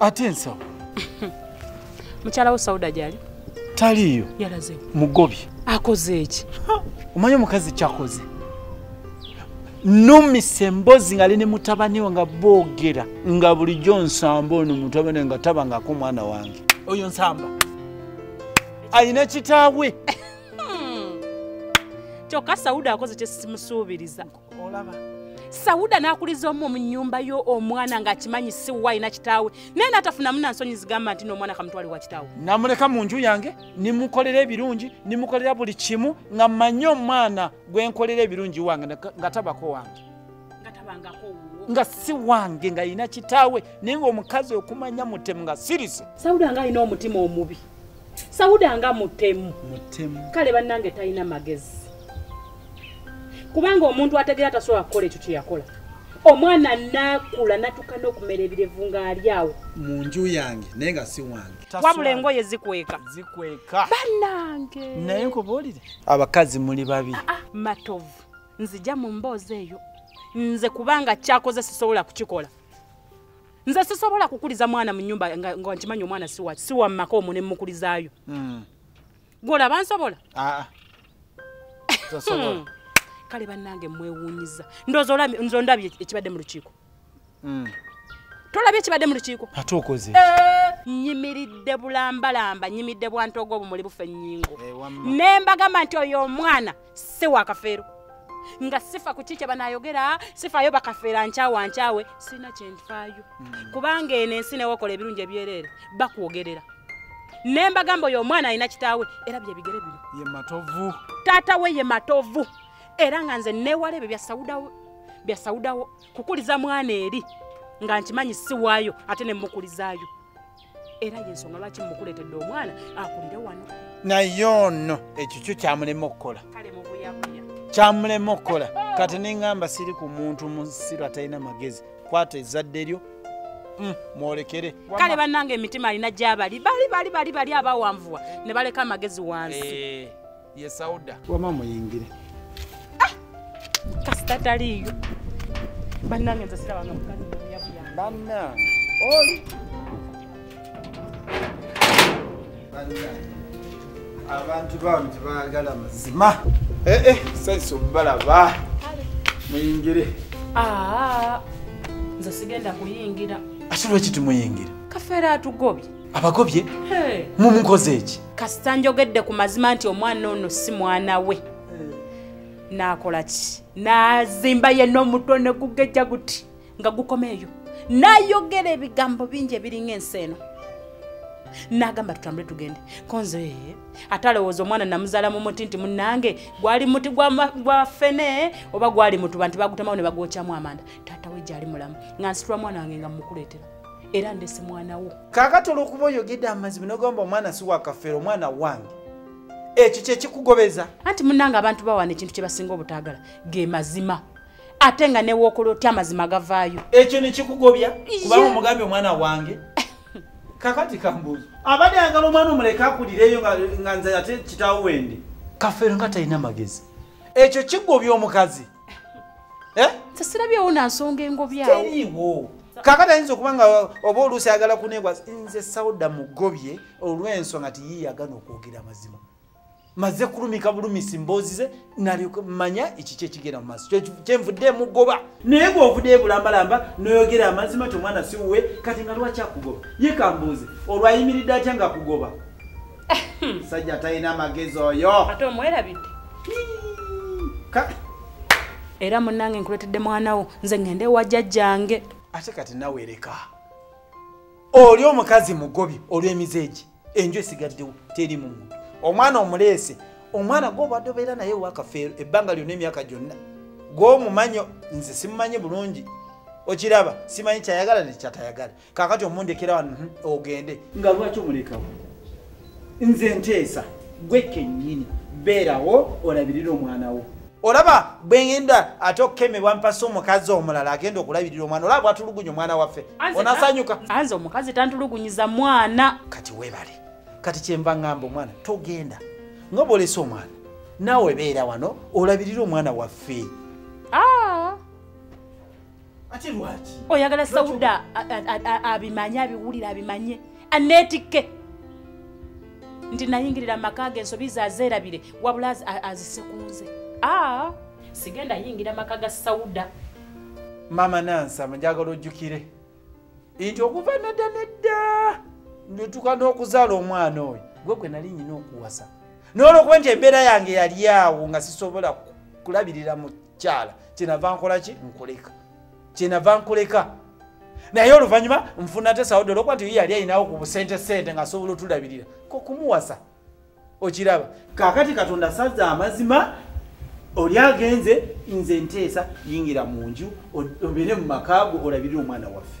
ate ensawo mukyala wo sauda gyali taliiyo yalazewo mugobye akoze eki omanyi omukazi kyakoze numisa emboozi nga lini mutabani we nga boogera nga bulijjo nsamba ono mutabani we nga taba ngaako omwana wange oyo nsamba alina kitaawe hmm. kyokka sauda akoze kyesimusuubiriza olaba sauda n'akuliza omu mu nyumba yo omwana ng'akimanyi si wa alina kitaawe naye n'atafunamu na nsonyi zigamba nti n'omwana kamutwale wa kitaawe namuleka mu nju yange nimukolera ebirungi nimukolera buli kimu nga mmanyi omwana gwe nkolera ebirungi wange nga tabako wange nga si wange nga yina kitaawe naye nga omukazi okumanya mutemu nga sirise sauda nga alina omutima omubi sauda nga mutemu kale bannange talina magezi kubanga omuntu ategeera tasobola kukola ekyo kyeyakola omwana nakula natuka nokumera ebirevu nga ali awo mu nju yange naye nga si wange wabula engoye zikweka zikweka banange naye nkubuulire abakazi muli babi ah, ah, matovu nzija mu mboozi eyo nze kubanga kyakoze sisobola kukikola nze sisobola kukuliza mwana mu nyumba nga nkimanyi omwana siwa siwa mumaka omu ne mukulizaayo hmm. gwolaba nsobola ah, hmm. kale bannange mwewuunyiza ndozo ndabye ekibadde mu lukiiko mm. tolabye ekibadde mu lukiiko ate okoze eh, nyimiridde bulambalamba nyimidde bwantoga obumuli bufe nyingo eh, ne mbagamba nti oyo omwana si wakafeero nga sifa ku kiki banayogera sifayo bakafeera nkyawa nkyawe sirina kyenfaayo mm. kubanga eno ensi newokola ebirungi ebyereere bakwogerera ne mbagamba oyo omwana alina kitaawe era byebigere bino ye matovu taata we ye matovu era nga nze newala ebyo byasawudawo byasawudawo kukuliza mwana eri nga nkimanyi siwaayo ate nemukulizaayo era yensonga lwaki mukuleetedde omwana akulire wano naye ono ekikyo kyamulema okukola kyamulema okukola kati nengamba siri ku muntu musiru atalina magezi kwata ezadde lyo mm, mwolekere kale banange emitima alina gyabali bali bali bali bali abawanvuwa ne baleka amagezi wansi eh. ye sauda wama muyingire ah! kasita taliyo bannange nze sirabanga mukazi bannange oli abantu bano tebagala mazima ee eh, eh, saisi obalaba muyingire ah, nze sigenda kuyingira ate lwaki timuyingira kafeera atugobye abagobye mumukoze eki kasita njogedde ku mazima nti omwana ono si mwana we nakola ki nazimba yena omutwe ne gugejja guti nga gukoma eyo nayogera ebigambo bingi ebiringa ensi eno nagamba tutambule tugende konze ate alowooza omwana namuzala mu muti nti munange gwali muti gwa fene oba gwali mutuba nti bagutemawo ne bagwokyamu amanda taata we gyali mulamu nga nsitula mwana wange nga mukuleetera era ndese mwana wo kakati olwokuba oyogedde amazima nogamba omwana si wakafeera omwana wange ekyo kyekikugobeza anti munange abantu bawana ekintu kyebasinga obutagala ge mazima ate nga newokola otya amazima gavaayo ekyo nekikugobya kubanga omugambye omwana wange kakati kambuuzo abadde ayagala omwana omuleka akulireyo nga nze ate kitawo wendi kafeero nga talina magezi ekyo kigobya omukazi eh? sesirabyewo nansonga engobyawo kakati ayinza okuba nga oba oluusi ayagala kunegwa nze sauda mugobye olw'ensonga ti yiyagana okwogera amazima maze kulumika bulumisi mboozi ze nalimanya ekiki ekigenda mu maaso kyenvudde mugoba naye bweovudde ebulambalamba noyogera amazima nti omwana siwuwe kati nga lwaki akugoba ye kambuuze olwayimiridde atya nga akugoba sajja talina magezi oyo ate omwerabidde era munange nkuletedde mwana wo nze ngende ewa jajjange ate kati nawe leka oli omukazi mugobi olw'emize egi enju esigaddewo teri mu muntu omwana omuleese omwana gwobadde obeera naye wakafeero ebbanga lyonna emyaka gyonna gwomumanyo nze simumanyi bulungi okiraba simanyi kyayagala nekyatayagala kakati omundekera wano mhm, ogende nga lwaki omulekawo nze nteesa gwe kenyini beerawo olabirira omwana wo olaba bwegenda ate okukemebwa mpasa omukazi omulala agenda okulabirira omwana olaba bwatulugunya omwana waffe onasanyuka anze omukazi tantulugunyiza mwana kati webale kati kyenva ngamba omwana togenda nga bwolesa omwana naawe beera wano olabirira omwana waffe ah! ate lwaki oyagala sauda abimanye abiwulire abimanye anetikke nti nayingirira amaka ge ensobi ze azeerabire wabula azise ku nze a sigenda yingira amaka ga sauda mama nansama njagala ojjukire nti okuva nadda nedda netuka n'okuzaala omwana oyo gwe gwe nali nyina okuwasa noolwokuba nti embeera yange yali awo nga sisobola kulabirira mu kyala kyenava nkola ki nkuleka kyenava nkuleka naye oluvanyuma nfuna te saudi olwokuba nti yali ayinawo ku busente sente nga asobola otulabirira kokumuwasa okiraba kakati katonda saza amazima oli agenze nze nteesa yingira mu nju obeere mu makaago olabirire omwana waffe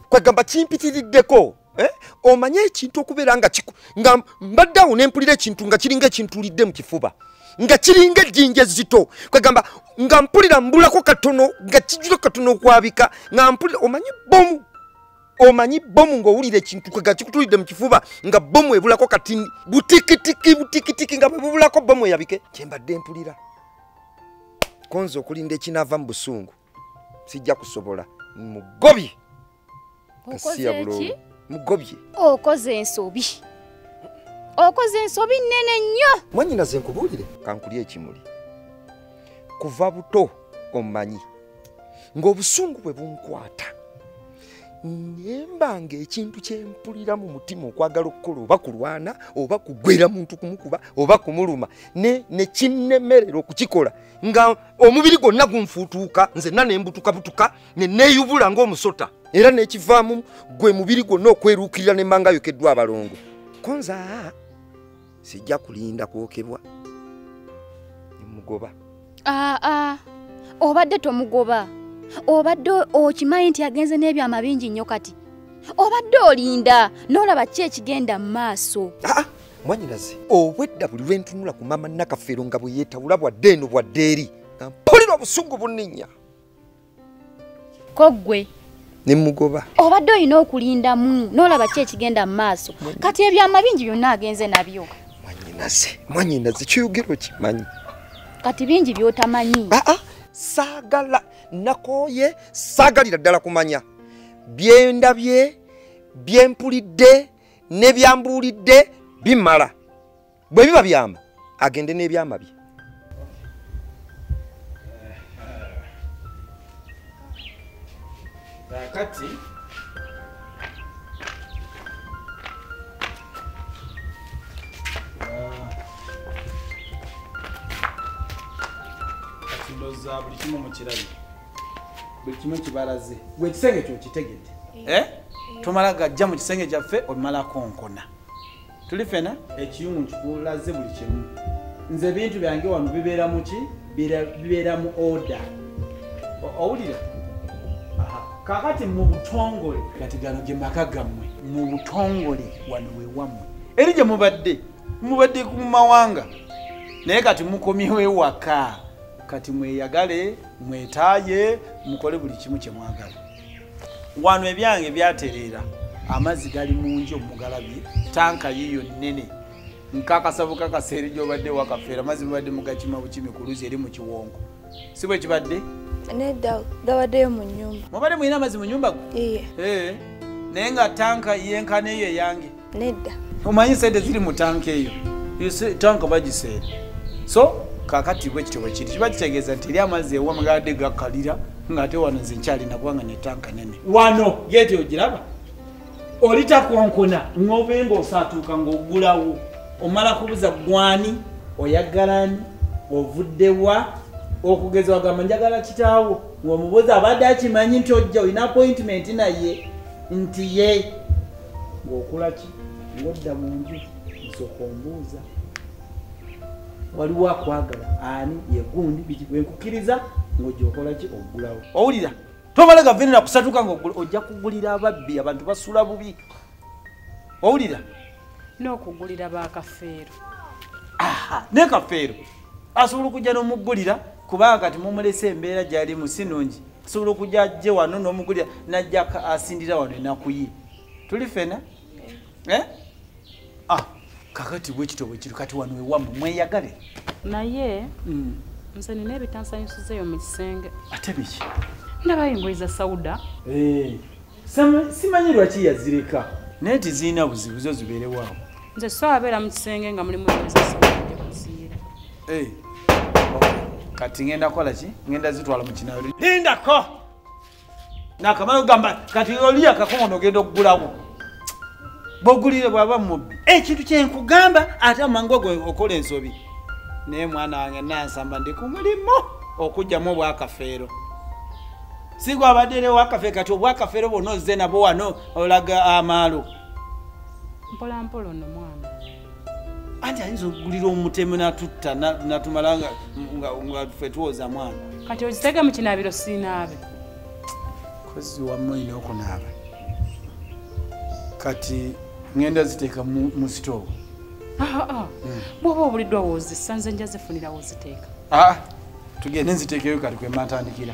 kwegamba kimpitiriddeko eh? omanye ekintu okubeera nga nga mbadde awo nempulira ekintu nga kiringa ekintulidde mu kifuba nga kiringa ejjinja ezzito kwegamba nga mpulira mbulako katono nga kijula katono okwabika nga mpulira omanyi bomu omanyi bomu ngaowulira ekintu kwega kikutulidde mu kifuba nga bomu ebulako kati butikitiki butikitiki nga bwebubulako bomu eyabike kyembadde mpulira konza okulinda ekinaava mu busungu sijja kusobola mugobye kasiya bulungi mugobye okoze ensobi okoze ensobi nnene nnyo mwanyina ze nkubuulire kankulya ekimuli kuva buto omumanyi ng'obusungu bwe bunkwata nemba ngaekintu kyempulira mu mutima okwagala okukola oba kulwana oba kugwera muntu kumukuba oba kumuluma nekinemerera okukikola nga omubiri gwonna gunfuutuuka nzenna ne mbutukabutuka ne neeyubula ng'omusota era n'ekivaamu gwe mubiri gwonna okweruukirira ne mbanga yokeddwa abalongo konza sijja kulinda kwokebwa nemugoba aa ah, ah. obadde tomugoba obadde okimanyi nti agenze n'ebyama bingi nnyo kati obadde olinda n'olaba ki ekigenda mu maaso ah, mwanyinaze obwedda buli lwe ntunula ku maama nakafeero nga bwe yeetawula bwadde eno bwadde eri nga mpulira obusungu bunninya koggwe ne mugoba obadde olina okulindamu n'olaba ki ekigenda mu maaso kati ebyama bingi byonna agenze nabyo mwanyinaze mwanyinaze kyoyogera okimanyi kati bingi by'otamanyi aa ah, ah, saagala nakooye saagalira ddala kumanya byendabye byempulidde nebyambuulidde bimala bwe biba byama agende n'ebyama bye kakati uh, za buli kimu mukirabye buli kimu kibalaze gwe ekisenge kyo kitegedde eh? tomala gajja mu kisenge kyaffe omala konkona tuli fena ekiyungu nkikulaze buli kimu nze ebintu byange wano bibeera mu ki bibeera mu oda owulira kakati mu butongole kati gano gye maka gammwe mu butongole wano wewammwe eri gye mubadde mubadde ku mawanga naye kati mukomyewo ewaka kati mweyagale mwetaaye mukole buli kimu kye mwagala wano ebyange byatereera amazzi gali mu nju omugalabi tanka yiyo nnene nkakasa bukakasa eri gyobadde wakafeera amazzi mubadde mugakima bukimi ku luzi eri mu kiwongo si bwe kibadde nedda gabaddeyo mu nyumba mubadde mulina amazzi mu nyumba gwe eh, naye nga tanka yenkana eyo eyange nedda omanyi sente ziri mu tanka eyo tanka bagiseera so kakati bwe kityo bwekiri kiba kitegeeza nti eri amazzi ewa mugadde gakalira ngaate wano nze nkyalina kubanga netanka nene wano geti ogiraba olitakonkona ngobe nga osatuuka ngaogulawo omala kubuza gwani oyagalani ovuddewa okugeza wagamba njagala kitaawo ngaomubuza abadde akimanyi nti ojja olina appointment naye nti ye ng'okola ki ng'odda mu nju nsooka ombuuza waliwo akwagala ani yegundi biki bwenkukiriza ng'ogyokola ki ogulawo owulira tomala gavenera kusatuka nga ojja kugulira ababbi abantu basula bubi owulira n'okugulira bakafeero ne kafeero asobola okujja n'omugulira kubanga kati mumulese embeera gyalimu si nungi sobola okuja ajje wano nomugulira najja asindira wano enakuye tuli fena eh? ah, kakati bwekito bwekiro kati wano ewamu mweyagale naye mm. nze nina ebitansanyusizeyo mu kisenge ate biki ndabayo engoyi za sauda hey. Eh, simanyi lwaki yazireka naye tizirina buzibu zo zibeerewaawo nze so abeera mu kisenge nga mulimu ezasakuziira eh, kati ngenda kola ki ngenda zitwala mu kinayo lindako nakamala ogamba kati oliyo akakongo nogenda okugulawo bogulire bwaba mubbi ekintu kyenkugamba ate amangu ogo okola ensobi naye mwana wange nansamba ndi ku mulimu okugyamu obwakafeero sigwabadderewo akafe kati obwakafeero bwona ozze nabwo wano olaga amaalo mpola mpola ono mwana anti ayinza okugulira omutemu natutta natumala nga fe tuwoza mwana kati okitega mu kinaabiro siinaabe kozi wamu olina okunaaba kati ngenda ziteeka mu sitoovu ah, ah, ah. hmm. bwoba obuliddwa wozisa nze nja zifunira woziteeka tugende nziteekeyo kati kwematandikira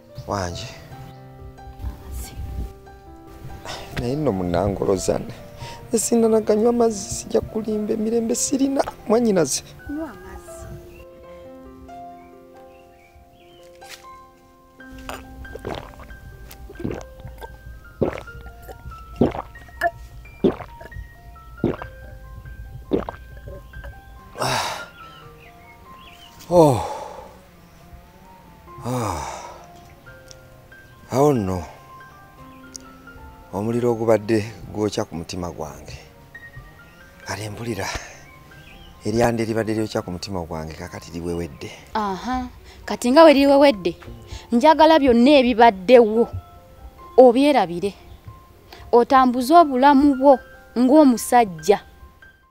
wangi naye nno munangolozana esindanaganywa amazzi sijja kulimba emirembe sirina mwanyinaze Ah. awo nno omuliro ogubadde gwokya ku mutima gwange kale mpulira eryanda eribadde lyokya ku mutima gwange kakati liwewedde aha kati nga we liwewedde njagala byonna ebibaddewo obyerabire otambuze obulamu bwo ng'omusajja